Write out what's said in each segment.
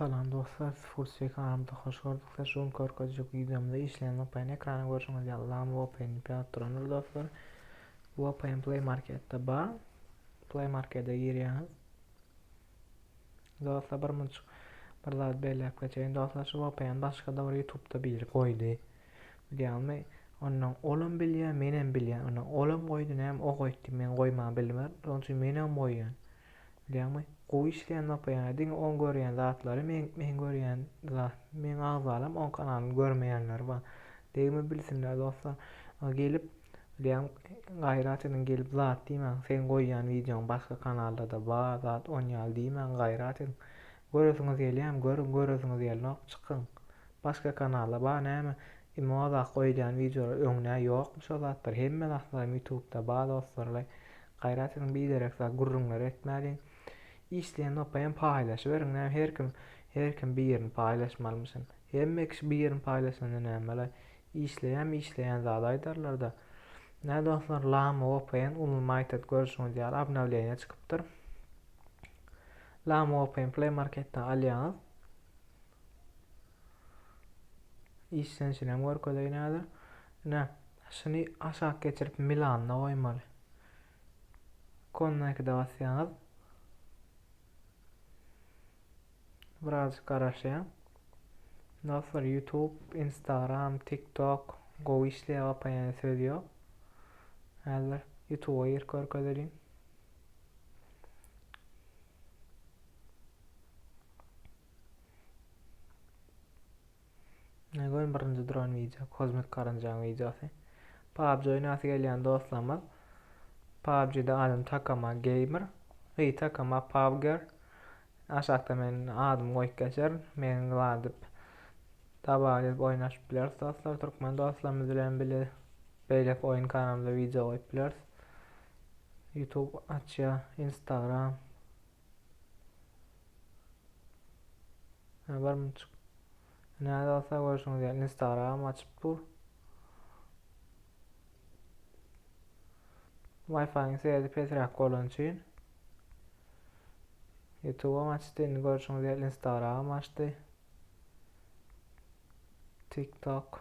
Salam dostlar siz full swing aramda hoş gördük size şu gün görkezjek wideomda işleýän vpn ekrany görşüňiz ýaly lam vpn np alyp durandyr dostlar vpn play marketde bar play markete girýäňiz dostlar bir münçik bir zat belläp geçeýin dostlar şu vpn başgada bir youtubeda biri goýdy bilýärmi ondan olam bilýär menem bilýän ondan olam goýdy näme o goýdy men goýman bilmär şonuň üçin menem goýýan Bilýäňmi, gowy işleýän nopeýäňe diňe oň görýän zatlary meň meň görýän zat meň agzalam oň kanalyny görmeýänleri bar. Degme bilsinler dostlar. A gelip bilýän gaýrat ediň gelip zat diýmäň. Seň goýýan wideoň başga kanallarda bar zat on ýaly diýmäň gaýrat ediň. Göresiňiz gelýämi görüň göresiňiz gelnok çykyň. Başga kanalda bar näme Imoda goýdýan wideolar öňňä ýokmy şo zatlar hemme zatlaram ýutubda ba dostlarlaý gaýrat ediň biderek zat gürrüňler etmäliň işleýän nokaýam paýlaşyberiň näme herkim herkim bir ýerini paýlaşmalymyşyn hemme kişi bir ýerini paýlaşanda nämelaý işleýäm işleýän zady aýdarlarda nä dostlar lama vpn ulnymaýtd görüşiňiz ýaly obnawleniýa çykypdyr lama vpn play marketden alýaňyz Işlenişinem görkezeýin häzir. Ine, şuny aşak geçirip Milanda goýmaly. Konnaýkide basýaňyz. Birazjyk garaşýaň. Dostlar, YouTube, Instagram, TikTok gowy işleýär, gapaýan söz ýok. Häzir YouTube-a girip görkezeliň. Ne goýun birinji duran wideo kozmik garynjaň wideosy. PUBG oýnasy gelýän dostlarymyz. PUBG-de adım Takama Gamer. Hey Takama PUBGer. Aşakda men adymy goýup geçerin. Meni gladyp dabaga gelip oýnaşyp bileris dostlar. Türkmen dostlarymyz bilen bile beýleki oýun kanalymda wideo goýup bileris. YouTube açýa, Instagram, Ýa barmyçyk. Näde bolsa görşüňiz ýaly Instagram açyp dur. Wi-Fi-iň seredi pesräk bolany üçin. YouTube açdy, indi görşüňiz ýaly Instagram açdy. TikTok.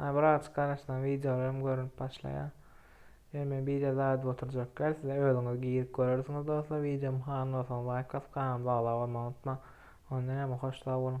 Maňa bir azajyk garaşsaň wideolaram görünip başlaýa. Ýöne men bije daýdyp oturjak däl sizler özüňiz girip görersiňiz dostlar wideomy halan bolsaňyz laýk basyp kanalymyza agza bolmagy unutmaň. Onda näme hoş sag boluň.